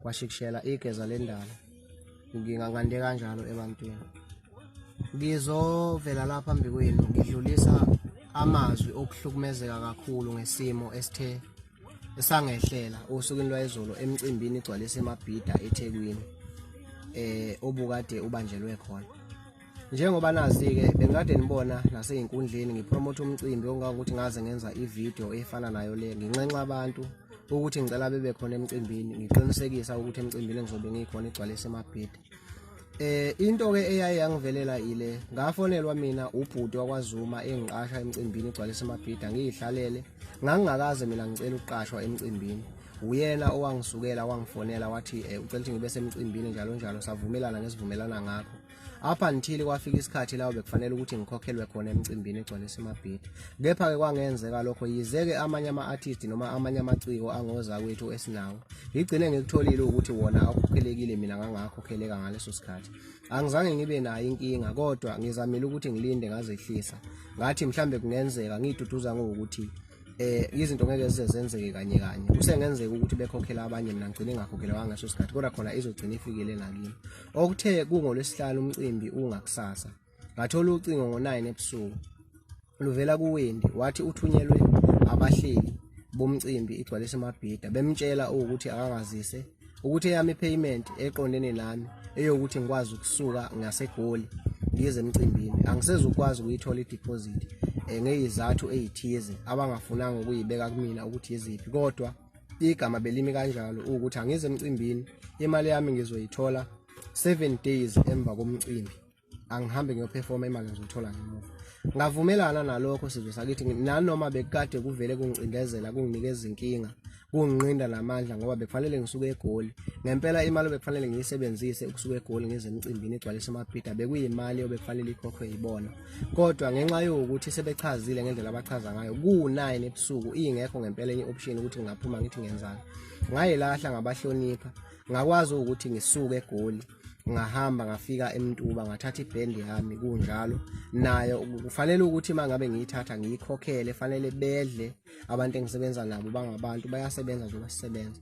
kwashikishela igeza lendalo ngingangande kanjalo ebantwini ngizovela lapha phambi kwenu ngidlulisa amazwi okuhlukumezeka kakhulu ngesimo esithe esangehlela osukwini lwayizolo emcimbini igcwalise emabhida eThekwini eh obukade ubanjelwe khona njengoba nazi-ke bengikade nibona nasey'nkundleni ngipromotha umcimbi okungangokuthi ngaze ngenza ividiyo efana nayo le nginxenxa abantu ukuthi ngicela bebe khona emcimbini ngiqinisekisa ukuthi emcimbini engizobe ngikhona igcwale isemabhidi eh into ke eyaye yangivelela ile ngafonelwa mina ubhuti wakwazuma engiqasha emcimbini igcwale isemabhida ngiyihlalele ngangingakaze mina ngicela ukuqashwa emcimbini uyena owangisukela wangifonela wathi eh, ucela ukuthi ngibe semcimbini njalo njalo savumelana ngesivumelana ngakho up until kwafika isikhathi lawo bekufanele ukuthi ngikhokhelwe khona emcimbini egcwele simabhidi kepha-ke kwangenzeka lokho yize-ke amanye ama-artist noma amanye amaciko angoza kwethu esinawo ngigcine ngikutholile ukuthi wona awukhokhelekile mina ngangakhokheleka ngaleso sikhathi angizange ngibe nayo inkinga kodwa ngizamile ukuthi ngilinde ngazehlisa ngathi mhlambe kungenzeka ngiyiduduza ngokuthi eh izinto ngeke zize zenzeke kanye kanye kusengenzeka ukuthi bekhokhela abanye mina ngigcine ngakhokhela wangeso sikhathi kodwa khona izogcina ifikile nakini Okuthe kungolwesihlanu umcimbi ungakusasa. Ngathola ucingo ngo-9 ebusuku. Luvela kuWendi wathi uthunyelwe abahleli bomcimbi igcwalise amabhida bemtshela ukuthi akangazise ukuthi eyami payment eqondene nami eyokuthi ngikwazi ukusuka ngasegoli ngize emcimbini angisezukwazi ukuyithola ideposit eh, ngeyizathu ezithize abangafunanga ukuyibeka kumina ukuthi yiziphi kodwa igama belimi kanjalo ukuthi angize emcimbini imali yami ngizoyithola 7 days emva komcimbi angihambe ngiyoperforma imali ngizothola ngemuva ngavumelana nalokho sizwe sakithi nanoma bekade kuvele kungicindezela kunginike izinkinga kunginqinda namandla ngoba bekufanele ngisuke egoli ngempela imali obekufanele ngiyisebenzise ukusuka egoli ngize emcimbini igcwalise amabhida bekuyimali obekufanele ikhokhwe yibona kodwa ngenxa yokuthi sebechazile ngendlela abachaza ngayo ku-9 ebusuku ingekho ngempela enye option ukuthi ngingaphuma ngithi ngenzani ngayelahla ngabahlonipha ngakwazi ukuthi ngisuke egoli ngahamba ngafika emntuba ngathatha ibhendi yami kunjalo nayo kufanele ukuthi uma ngabe ngiyithatha ngiyikhokhele fanele bedle abantu engisebenza nabo bangabantu bayasebenza njengoba sisebenza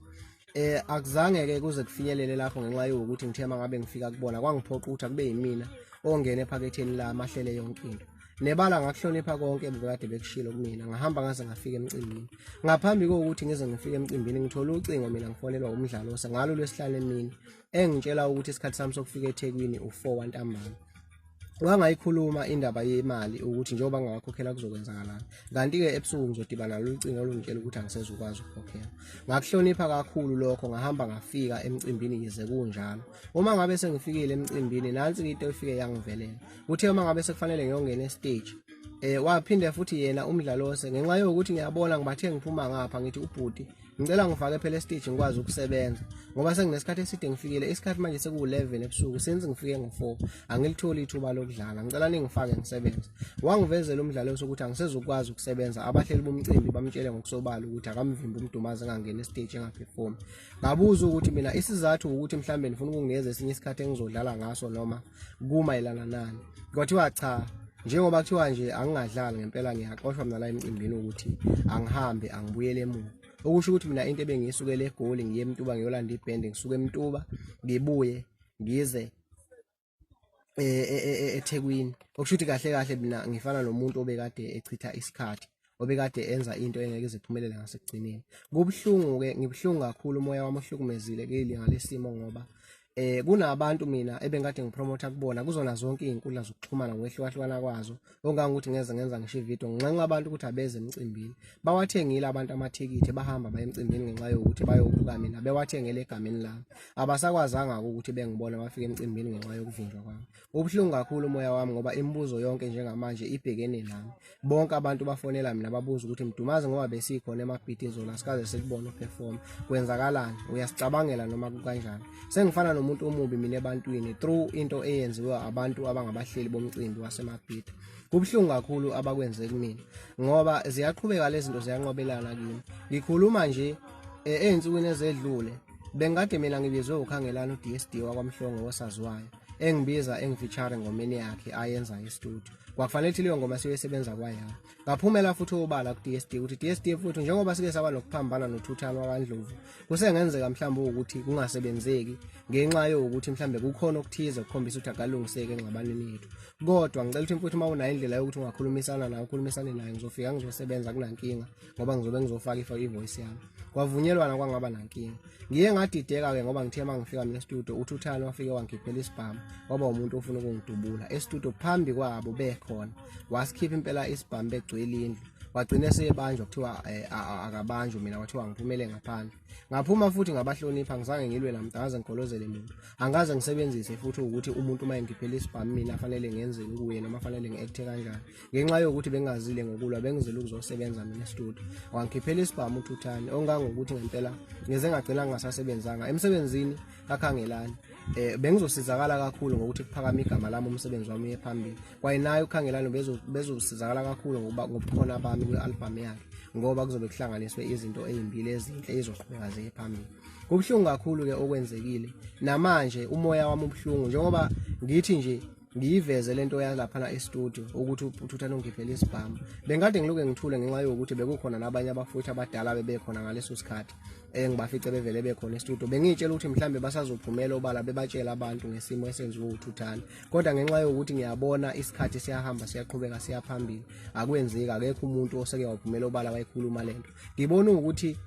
eh akuzange ke kuze kufinyelele lapho ngenxa yokuthi ngithe mangabe ngifika kubona kwangiphoqa ukuthi akube yimina ongena ephaketheni la mahlele yonke into nebala ngakuhlonipha konke ebukade bekushilo kumina ngahamba ngaze ngafika emcimbini ngaphambi kokuthi ngize ngifike emcimbini ngithola ucingo mina ngifonelwa umdlalo osengalo lwesihlanu emini engitshela ukuthi isikhathi sami sokufika eThekwini u4 wantambama wangayikhuluma indaba yemali ukuthi njengoba ngingakhokhela kuzokwenzakalani kanti-ke ebusuku ngizodibana lolu cingo olungitshela ukuthi angisezukwazi ukukhokhela ngakuhlonipha kakhulu lokho ngahamba ngafika emcimbini yize kunjalo uma ngabe sengifikile emcimbini nansi into efike yangivelela kuthe uma ngabe sekufanele ngiyongena estage um eh, waphinde futhi yena umdlalose ngenxa yokuthi ngiyabona ngibathe ngiphuma ngapha ngithi ubhuti ngicela ngifake phela estage ngikwazi ukusebenza ngoba senginesikhathi eside ngifikile isikhathi manje sekuwu-11 ebusuku since ngifike ngo-4 angilitholi ithuba lokudlala ngicela ningifake ngisebenze wangivezela umdlalo sokuthi angisezukwazi ukusebenza abahleli bomcimbi bamtshele ngokusobala ukuthi akamvimbi umdumazi engangeni estage engaphefumi ngabuza ukuthi mina isizathu ukuthi mhlawumbe ndifuna ukunginikeza esinye isikhathi engizodlala ngaso noma kumayelana nani kwathiwa cha njengoba kuthiwa nje angingadlali ngempela ngiyaxoshwa mina la emcimbini ukuthi angihambe angibuyele emuva okusho ukuthi mina into ebengiyisukele egoli ngiye emtuba ngiyolanda ibhende ngisuke emtuba ngibuye ngize eh, eh, eh, ethekwini okusho ukuthi kahle kahle mina ngifana nomuntu obekade echitha isikhathi obekade enza into engeke iziphumelele ngasekugcineni kubuhlungu-ke ngibuhlungu kakhulu umoya wami ohlukumezile keli ngalesimo ngoba eh kunabantu mina ebengikade ngipromotha kubona kuzona zonke izinkundla zokuxhumana ngokwehlukahlukana kwazo ongange ukuthi ngeze ngenza ngisho ivideo ngenxa abantu ukuthi abeze emcimbini bawathengile abantu amathikithi bahamba baye emcimbini ngenxa yokuthi bayobuka mina bewathengele egameni lami abasakwazanga ukuthi bengibone bafike emcimbini ngenxa yokuvinjwa kwami ubuhlungu kakhulu umoya wami ngoba imibuzo yonke njengamanje ibhekene nami bonke abantu bafonela mina babuza ukuthi mdumazi ngoba besikhona emabhidini zona sikaze sikubona uperform kwenzakalani uyasicabangela noma kukanjani sengifana nomuntu omubi mina ebantwini through into eyenziwe abantu abangabahleli bomcimbi wasemabhidi kubuhlungu kakhulu abakwenze kumina ngoba ziyaqhubeka lezi zinto ziyanqobelana kimi ngikhuluma nje e, ezinsukwini ezedlule bengikade mina ngibizwe ukhangelana uDSD wakwamhlongo wosaziwayo engibiza engifeature ngomeni yakhe ayenza estudio kwakufanele ukuthi leyo ngoma siyoyisebenza kwayami ngaphumela futhi obala ku-dsd ukuthi dsd futhi njengoba sike saba nokuphambana nothuthana wakandlovu kusengenzeka mhlawumbe ukuthi kungasebenzeki ngenxa yokuthi mhlawumbe kukhona okuthize kukhombisa ukuthi akalungiseki engxabaneni yethu kodwa ngicela ukuthi futhi uma unayo indlela yokuthi ungakhulumisana naye ukhulumisane naye ngizofika ngizosebenza kunankinga ngoba ngizobe ngizofaka ifa ivoice yami kwavunyelwana kwangaba nankinga ngiye ngadideka-ke ngoba ngithe uma ngifika mina estudio uthi uthani wafike wangikhiphela isibhamu waba umuntu ofuna ukungidubula estudio phambi kwabo bekhona wasikhipha impela isibhamu begcwele indlu wagcina esebanjwa kuthiwa eh, akabanjwe mina kwathiwa ngiphumele ngaphandle ngaphuma futhi ngabahlonipha ngizange ngilwe namntu angaze ngigolozele muntu angaze ngisebenzise futhi ukuthi umuntu uma engiphelisa ibhamu mina afanele ngenzeni kuye noma afanele ngi-ekthe kanjani ngenxa yokuthi bengazile ngokulwa bengizile ukuzosebenza mina studio wangikhiphela isibhamu uthuthane ongangokuthi ngempela ngeze ngagcina ngingasasebenzanga emsebenzini kakhangelani eh bengizosizakala kakhulu ngokuthi kuphakama igama lami umsebenzi wami uye phambili kwaye naye ukhangelani bezosizakala kakhulu ngokuba ngobukhona bami kwi-albhamu yakhe ngoba kuzobe kuhlanganiswe izinto ezimbili ezinhle ezizoqhubeka ziye phambili kubuhlungu kakhulu-ke okwenzekile namanje umoya wami ubuhlungu njengoba ngithi nje ngiyiveze lento yalaphana e-studio ukuthi uthuthane ungiphelele isibhamu bengikade ngiloke ngithule ngenxa yokuthi bekukhona nabanye abafuthi abadala bebekhona ngaleso sikhathi engibafice bevele bekhona e-studio bengiyitshela ukuthi mhlawumbe basazophumela obala bebatshela abantu ngesimo esenziwe uthuthane kodwa ngenxa yokuthi ngiyabona isikhathi siyahamba siyaqhubeka siyaphambili akwenzeki akekho umuntu oseke waphumela obala wayikhuluma lento ngibona ukuthi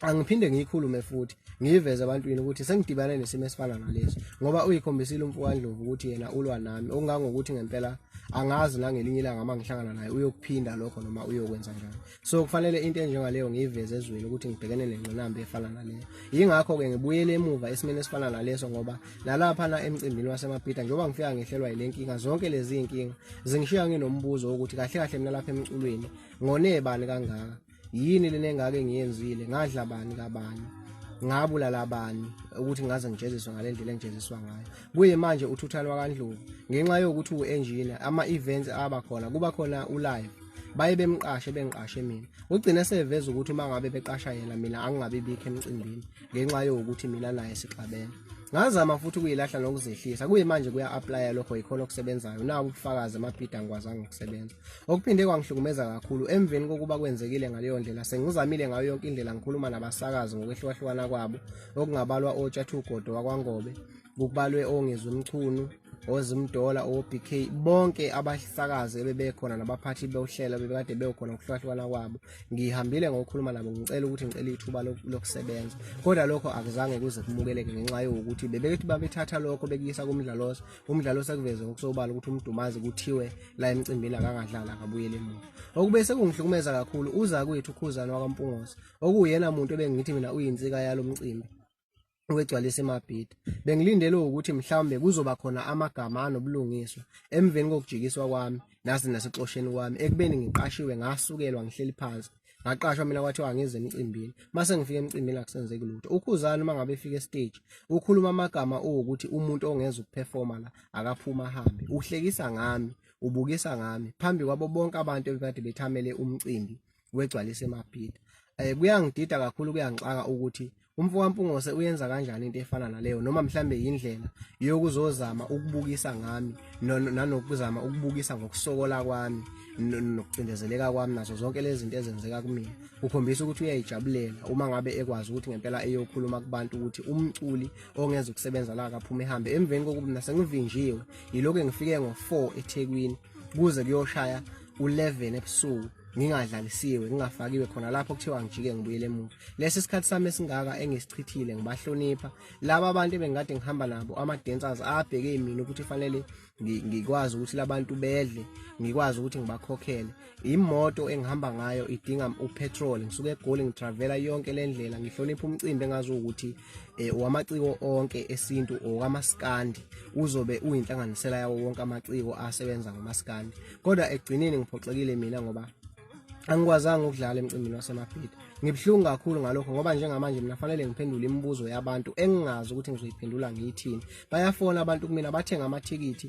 angiphinde ngiyikhulume futhi ngiyiveze ebantwini ukuthi sengidibane nesimo esifana nalesi ngoba uyikhombisile umfowandlovu ukuthi yena ulwa nami okungangokuthi ngempela angazi nangelinye ilanga uma ngihlangana naye uyokuphinda lokho noma uyokwenza njani so kufanele into enjengaleyo ngiyiveze ezweni ukuthi ngibhekene nengqinamba efana naleyo yingakho-ke ngibuyele emuva esimeni esifana naleso ngoba nalaphana emcimbini wasemabhida njengoba ngifika ngehlelwa yile nkinga zonke lezi nkinga zingishiya nginombuzo wokuthi kahle kahle mina lapha emculweni ngonebani kangaka yini lena engake ngiyenzile ngadla bani kabani ngabulala abani ukuthi ngaze ngijeziswe ngale ndlela engijeziswa ngayo kuye manje uthuthalo wakandlovu ngenxa yokuthi u-engineer ama-events aba khona kuba khona ulive baye bemqashe bengiqashe mina ugcine seveza ukuthi uma ngabe beqasha yena mina angingabi bikho emcimbini ngenxa yokuthi mina naye sixabene ngazama futhi ukuyilahla nokuzehlisa kuyimanje kuya-aplaya lokho yikhona okusebenzayo naku ubufakazi amabhida angikwazanga ukusebenza okuphinde kwangihlukumeza kakhulu emveni kokuba kwenzekile ngaleyo ndlela sengizamile ngayo yonke indlela ngikhuluma nabasakazi ngokwehlukahlukana kwabo okungabalwa otshathugodo wakwangobe kubalwe ongezwe mchunu ozimdola obk bonke abasakazi ebebekhona nabaphathi bewuhlela bebekade bewukhona ukuhlukahlukana kwabo ngihambile ngokukhuluma nabo ngicela ukuthi ngicela ithuba lokusebenza kodwa lokho akuzange kuze kumukeleke ngenxa yokuthi bebethi babethatha lokho bekuyisa kumdlaloso umdlaloso ekuveze ngokusobala ukuthi umdumazi kuthiwe la emcimbini akangadlali akabuyele emuva okube sekungihlukumeza kakhulu uza kwethu ukhuzana wakampungosi okuwuyena muntu ebengithi mina uyinsika yalo mcimbi wegcwalisa iMabhida. Bengilindele ukuthi mhlawumbe kuzoba khona amagama anobulungiswa emveni kokujikiswa kwami nasi nasexosheni kwami ekubeni ngiqashiwe ngasukelwa ngihleli phansi ngaqashwa mina kwathiwa ngize emcimbini mase ngifika emcimbini akusenzeki lutho ukhuzana uma ngabe efika estage ukhuluma amagama ukuthi umuntu ongeza ukuperforma la akaphuma hambe uhlekisa ngami ubukisa ngami phambi kwabo bonke abantu ebekade bethamele umcimbi wegcwalise emaphida um eh, kuyangidida kakhulu kuyangixaka ukuthi umfo kampungose uyenza kanjani into efana naleyo noma mhlambe yindlela yokuzozama ukubukisa ngami nanokuzama ukubukisa ngokusokola kwami nokucindezeleka kwami nazo zonke lezi zinto ezenzeka kumina kukhombisa ukuthi uyayijabulela uma ngabe ekwazi ukuthi ngempela eyokhuluma kubantu ukuthi umculi ongenza ukusebenza la kaphuma ehambe emveni kokuba mina sengivinjiwe yilokhu engifike ngo-4 ethekwini kuze kuyoshaya u-11 ebusuku ngingadlalisiwe ngingafakiwe khona lapho kuthiwa ngijike ngibuyele emuva lesi sikhathi sami esingaka engisichithile ngibahlonipha laba abantu ebengikade ngihamba nabo ama-dancers abheke mina ukuthi fanele ngikwazi ukuthi labantu bedle ngikwazi ukuthi ngibakhokhele imoto engihamba ngayo idinga upetrol ngisuke egoli ngitravela yonke le ndlela ngihlonipha umcimbi engazi ukuthi eh, wamaciko onke esintu okamaskandi uzobe uyinhlanganisela yawo wonke amaciko asebenza ngomaskandi kodwa ekugcineni ngiphoxekile mina ngoba angikwazanga ukudlala emcimbini wasemabhida ngibuhlungu kakhulu ngalokho ngoba njengamanje mina fanele ngiphendule imibuzo yabantu engingazi ukuthi ngizoyiphendula ngiyithini bayafona abantu kumina bathenga amathikithi